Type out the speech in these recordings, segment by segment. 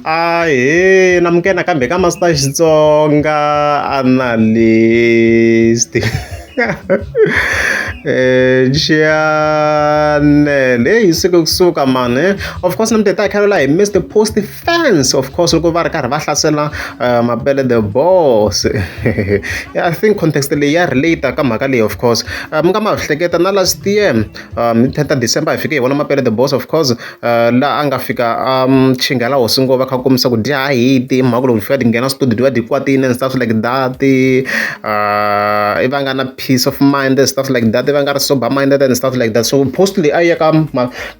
Ahee namukela nakambe ka Master Xitsonga Analyst Chanel heyi yi suke kusuka mhani he of course namuntlha hi ta hi kha hi missed post fans of course loko va ri karhi va hlasela mapele the boss I think context leyi ya relate ka mhaka leyi of course mi nga ma hleketa na last year hi thirty December hi fike hi vona mapele the boss of course laha a nga fika a chingela hosi ngo va kha va kombisa ku dya ha hiti ti hi mhaka loko hi fika hi nghena studio hi va hi kwatile and stuff like that i va nga na peace of mind and stuff like that va nga ri sober minded and stuff like that so post leyi a yi ya ka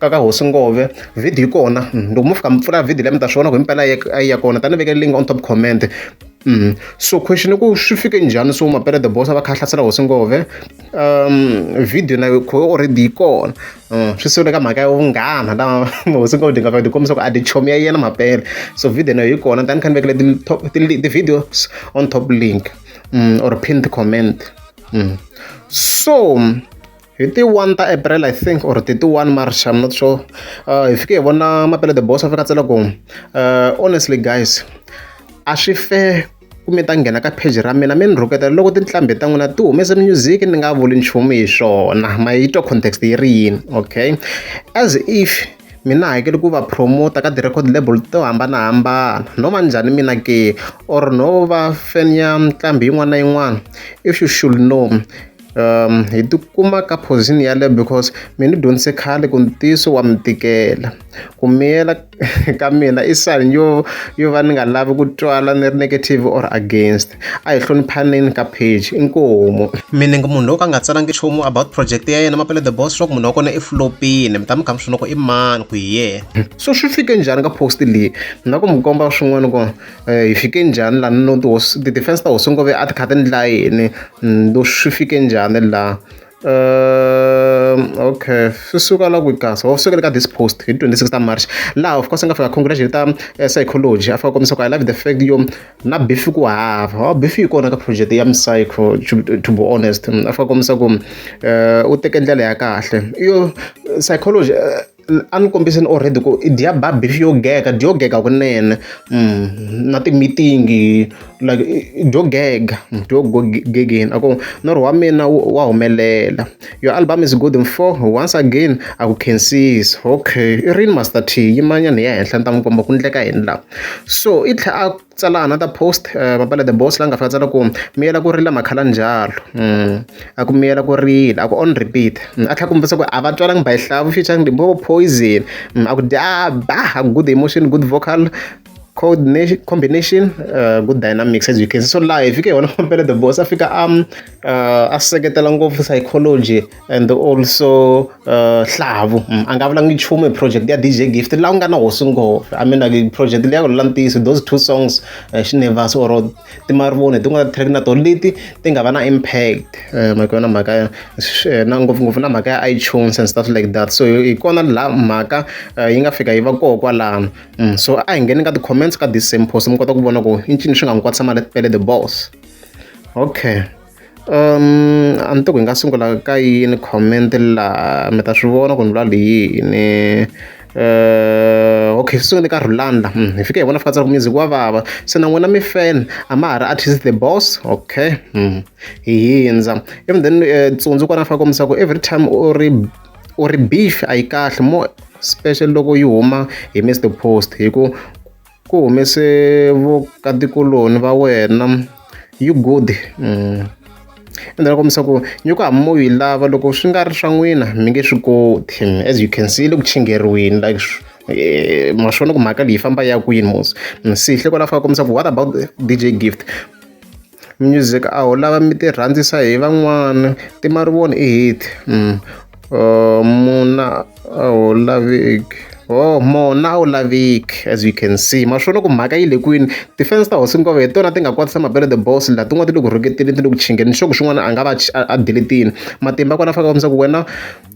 ka ka hosi ngove video yi kona loko mo fika mi pfula video leyi mi ta swi vona ku himpela a yi ya kona tani ni vekele link on top comment Mm. so question i ku swi fike njhani so mapele the boss a va kha a hlasela hosi ngove um video na yo already yi kona swi sungule ka mhaka ya vunghana la hosi Nghunghunyana nga va ti kombisa ku a ti chomi ya yena mampela so video na yi kona tani kha ni vekele ti-top ti-videos on top link mm, or pinned comment mm. so hi ti one ta april i think or ti ti one march i'm not sure uh, hi fike hi vona mapele the boss a fika tsela ku uh, honestly guys a swi fair Ku mi ta nghena ka pheji ra mina mi ni rhuketela loko tinhlambi ta n'wina ti humese music ni nga vuli nchumu hi swona ma yi twa context yi ri yini okay as if mina hakeli ku va promota ka ti-record label to hambanahambana no va njhani mina ke or no va fan ya nqambi yin'wana na yin'wana if you should know um hi tikuma ka position yaleyo because mi ni dyondzise khale ku ntiyiso wa mi tikela ku miyela ka mina i sign yo yo va ni nga lavi ku twala ni ri negative or against a hi hloniphaneni ka page inkomu mina ngi munhu loyi ka nga tsalangi nchumu about project ya yena mapele the boss leswaku munhu wa kona i flopini mi ta mi kha mi swi loko i mani ku hi yena so swi fike njhani ka post leyi na ku mi komba swin'wana ku hi fike njhani lani no tihosi ti-defense ta hosi nghovo a ti kha ti ndla yini no swi fike njhani la okay swi suka la ku kahle wa sukela ka this post hi twenty six ta march laha of course a nga fika congratulation ta psychology a fika kombisa ku i love the fact yo na beef ku hava wa beef yi kona ka project ya psycho to be honest a fika kombisa ku u teke ndlela ya kahle yo psychology a ni kombisa ni already ku i dya ba beef yo gega dyo gega kunene na ti meeting like dyo gega dyo go gegeni a ku norho wa mina wa humelela your album is good mfoh once again a ku khensisa okay i rini Master T yimanyana hi ya henhla ni ta n'wi komba ku endleka yini la so i tlhe a. tsala another post mapale the boss la nga fika a tsala ku miyela ku rila makhala njalo a ku miyela ku rila a ku on repeat a tlhela kombisa ku a va tswalanga by hlavu featuring limpopo poison a ku dya ba good emotion good vocal coordination combination uh, good dynamics as you can see so live fike yona mapele the boss a fika a a seketela ngopfu psychology and also uh, hlavu mm, a nga vulangi nchumu hi project ya dj gift laha ku nga na hosi nghovo i mean like project leyi ya ku lula ntiyiso those two songs uh, eh, xinevasi or timarivoni hi tin'wana ti-track na tona leti ti nga va na impact eh, mhaka yona mhaka eh, na ngopfungopfu na mhaka ya itunes and stuff like that so hi kona la mhaka yi nga fika yi va koho kwalano mm, so a hi ngheni ka ti-comments ka this same post mi kota ku vona ku i ncini swi nga n'wi kwatisa mali tele the boss okay a ni tivi ku hi nga sungula ka yini comment laha mi ta swi vona ku ni vula yini okay hi sungule ka Rolanda hi fike hi vona fika music wa vava se na n'wina mi fan a ma ha ri artist the boss okay hi hundza ivi then Tsundzo kwala a fanele a kombisa ku every time u ri u ri beef a yi kahle more special loko yi huma hi missed post hi ku. Ku humese vukatikuloni va wena you good ende va kombisa ku nyuku hambi mo yi lava loko swi nga ri swa n'wina mi nge swi koti as you can see yi le ku chingheriweni like ma swi vona ku mhaka leyi yi famba ya kwini mos ni sihle kwala a fanele a kombisa ku what about D_J Gift. Music a wu lava mi ti rhandzisa hi van'wana ti ma ri vona i hit muna a wu laveki wo mona a wu laveki as you can see ma swona ku mhaka yi le kwini ti-fans ta hosi hi tona ti nga kwatisa mabelo the boss la tin'wana ti le ku rhuketeni ti le ku chingeni ni sure ku xin'wana a nga va a deletini matimba kona a fanele a kombisa ku wena.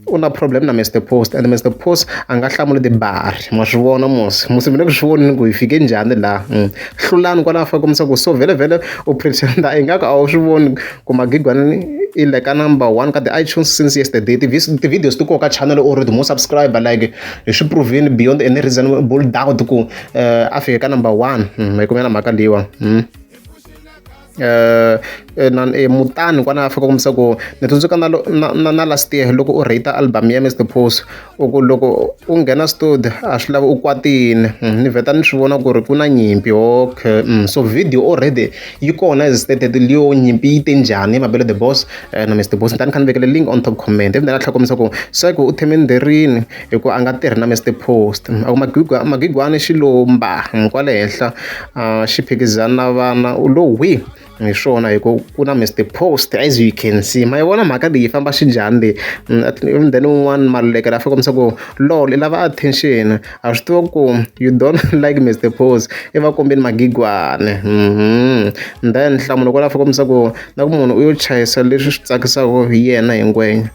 u na problem na Mister Post and Mister Post a nga hlamuli tibari ma swi vona mos musi mi le ku swi vonini ku hi fike njhani laha mm. hlulani kwalaho fa kombisa ku so vhele vhele u pretenda ingaku a wu swi voni ku magigwana i le ka number one ka ti-itunes since yesterday ti-videos ti koka channel or the more subscriber like hi swi provini beyond any reasonable doubt ku eh, a fike ka number one mm, hi kumela mhaka leyiwa mm. eh, eh, na eh, mutani kwana a fika kombisa ku ni tsundzuka na, na, na, na last year loko u rate album ya mr pose u ku loko u nghena studio a swi lava u kwatini mm, ni vheta ni swi vona ku ri ku na nyimpi okay mm, so video already yi kona as stated leyo nyimpi yi te njhani mabelo the boss eh, na mr boss ni tani kha ni vekele link on top comment ivi ni nga tlhakomisa ku se ku u theme nderini hi ku a nga tirhi na Mister Post a ku magwigwa magwigwani xi lo mba kwale henhla xi phikizana na vana u lo hwi hi swona hi ku ku na Mister Post as you can see ma yi vona mhaka leyi famba xi njhani leyi mm, then un'wana maluleke la fika kombisa ku lol i lava attention a swi tiva ku you don't like Mister Post i va kombeni magigwane mhm. then nhlamulo kwala fika kombisa ku na ku munhu u yo chayisa leswi swi tsakisaka hi yena hi ngwenya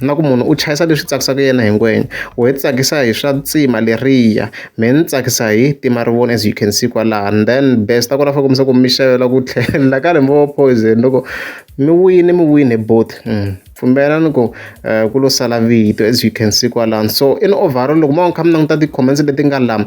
na ku munhu u chayisa leswi tsakisaka yena hi ngwenya wehe ti tsakisa hi swa tsima leriya mehe ni tsakisa hi tima ri vona as you can see kwalaho and then best a ku ri after ku mi se ku mi xavela ku tlhela ka lembe wa poison loko mi wine mi wine both pfumbela ni ku ku lo sala vito as you can see kwalano so in overall loko mo va mi kha mi languta ti-comments leti nga lama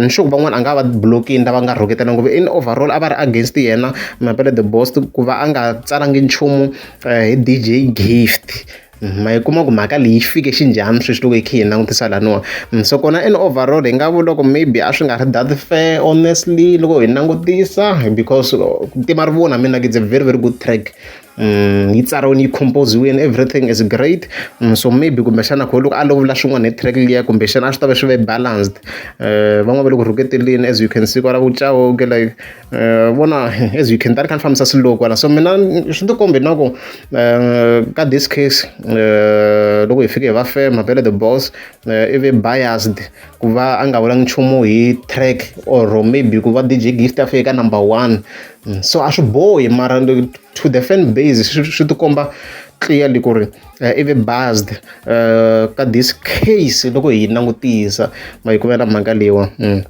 ni sure ku van'wana a nga va blokini lava nga rhuketana ngopfu in overall a va ri against yena Mapele the boss ku va a nga tsalangi nchumu hi DJ Gift ma yi kuma ku mhaka leyi fike xi njhani sweswi loko hi kha hi langutisa laniwa so kona in overall hi nga vula ku maybe a swi nga ri that fair honestly loko hi langutisa because ku tima rivoni mina it's a very very good track. Um yi tsariwile yi compose-riwile everything is great so maybe kumbexana a ko loko a lovula swin'wana hi track liya kumbexana a swi tava swi ve balanced van'wana va le ku rhuketeleni as you can see kwala vu Chauke like vona as you can tala ni kha ni fambisa slow kwala so mina swi ti kombe na ku ka this case loko hi fike hi va fema vhele the boss i ve biased ku va a nga vulangi nchumu hi track or maybe ku va DJ Gift a fike ka number one so a swi bohi mara to the fan base swi tikomba clearly ku ri eh, i ve based eh, ka this case loko hi langutisa ma yi kumela mhaka leyiwa mm.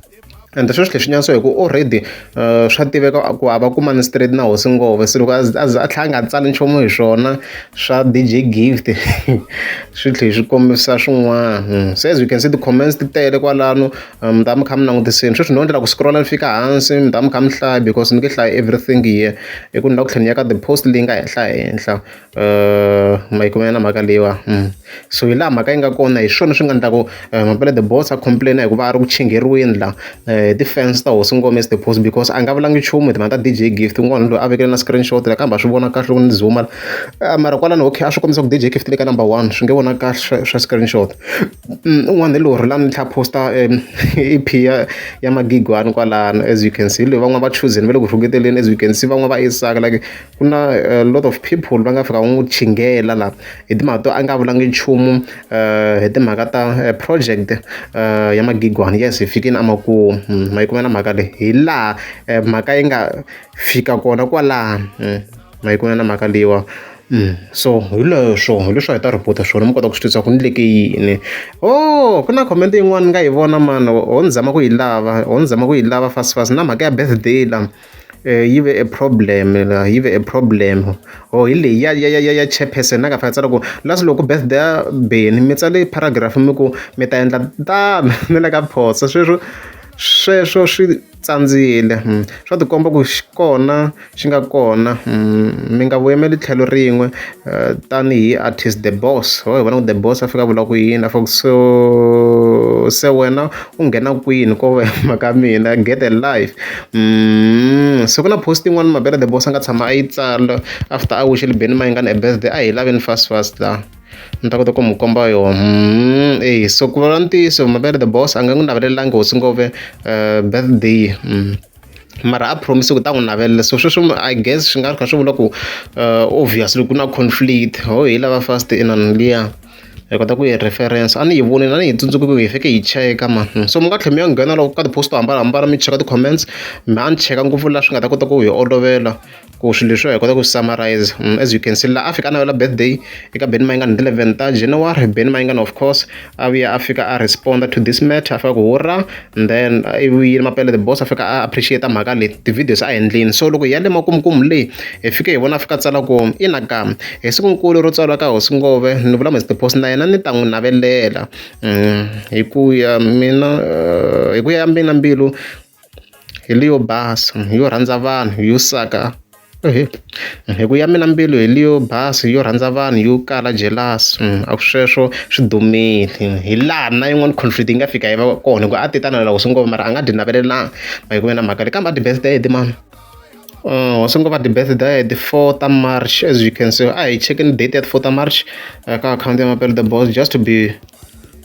and sweswi leswi nyanso hi ku already eh, swa tiveka ku hava kumani straight na hosi ngove se loko a tlhela a nga tsali nchumu hi swona swa dj gift swi tlhe swi kombisa swin'wana hmm. se as you can see ti-comments ti tele kwalano mi ta va mi kha mi langutisile sweswi no endlela ku scroll-a ni fika hansi mi ta va mi kha mi hlaya because ni nge hlayi everything here hi ku ni lava ku tlhela ni ya ka ti-post leyi nga henhla henhla ma yi kumela na mhaka leyiwa so hi laha mhaka yi nga kona hi swona swi nga endlaku mampela the boss a complain hi ku va a ri ku chingheriweni la ti-fans ta hosi ngome is the post because a nga vulangi nchumu hi timhaka ta DJ gift un'wana loyi a vekele na screenshot la kambe a swi vona kahle loko ni zoom-a mara kwalano okay a swi kombisa ku DJ gift le ka number one swi nge vona kahle swa swa screenshot. un'wana hi lorhi la mintlha a post-a E_P ya ya Magigwani kwalano as you can see hi loyi van'wana va chuzini va le ku rhuketeleni as you can see van'wana va Isaka like ku na a lot of people va nga fika va n'wi chingela la hi timhaka to a nga vulanga nchumu hi timhaka ta project ya Magigwani yes hi fikile a makumu ma yi kumela mhaka leyi hi laha mhaka yi nga fika kona kwalano. Ma yi ku na na mhaka leyiwa so hi leswo hi leswi a hi ta report-a swona mi kota ku swi tiva swa ku endleke yini ohh ku na comment yin'wani ni nga yi vona mani ho ni zama ku yi lava ho ni zama ku yi lava fast fast na mhaka ya birthday la yi ve a problem la yi ve a problem ho hi leyi ya ya ya ya chairperson a nga fanele a tsala ku la swi loko birthday ya Benny mi tsale paragraph mi ku mi ta endla tano ni le ka phoso sweswo sweswo swi. tsandzile swa tikomba ku xi kona xi nga kona mi nga vu yimeli tlhelo rin'we tanihi artist the boss ho hi vona ku the boss a fika a vula ku yini a fane ku so se wena u nghena kwini ko va mhaka mina get a life se ku na post yin'wani mavhele the boss a nga tshama a yi tsala after a wishe le benimini a yi nga ni a hi laveni fast fast la. ni ta kota ku mi komba yona mm, eyi so ku vulavula ntiyiso mavele the boss a nga n'wi navelelanga hosi ngove uh, birthday mm. mara a promise ku ta n'wi navelela so sweswo i guess swi nga ri kha swi vula ku uh, obviously ku na conflict ho hi lava fast inani liya hi kota ku yi reference a ni yi vonile a ni yi tsundzuki ku hi fike hi cheka ma hmm. so mi nga tlhela mi ya nghena loko ka ti-post to hambanahambana mi cheka ti-comments mi a ni cheka ngopfu laha swi nga ta kota ku hi olovela ku swilo leswiwa hi kota ku summarize mm, as you can see la afrika a navela birthday eka beni mayingani ti 11 ta january beni mayingani of course a vuya a fika a responda to this matter a fika ku hurra and then i vuyile mapele the boss a fika a appreciate mhaka leyi ti-videos a endlini so loko hi ya le makumkumu leyi hi fike hi vona a fika tsala ku ina ka hi sikunkulu ro tswalwa ka hosi ngove ni vula mr post na yena ni ta n'wi navelela mm, hi ku ya mina eh, hi ku ya ya mina mbilu hi leyo basa yo rhandza vanhu yo saka hi ku ya mina mbilu hi leyo basa yo rhandza vanhu yo kala jealous a sweswo swi dumile hi laha na yin'wani conflict yi nga fika yi va kona hi ku a ti ta na loko swi ngo mara a nga ti navelelanga ma yi ku ve na mhaka leyi kambe a ti-birthday ti mani. Uh, so ngo vha debate da the 4th of march as you can see i check in date at 4th of march uh, ka account ya mapele the boss just to be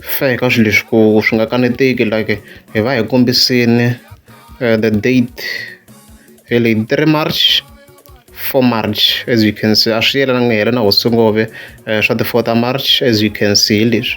fair ka swilo leswi ku swi nga kaneteki like hi va hi kombisini uh, the date hi le 3 march 4 march as you can see a swi yelananga hi yelana hosingove uh, swa the 4th of march as you can see hi leswi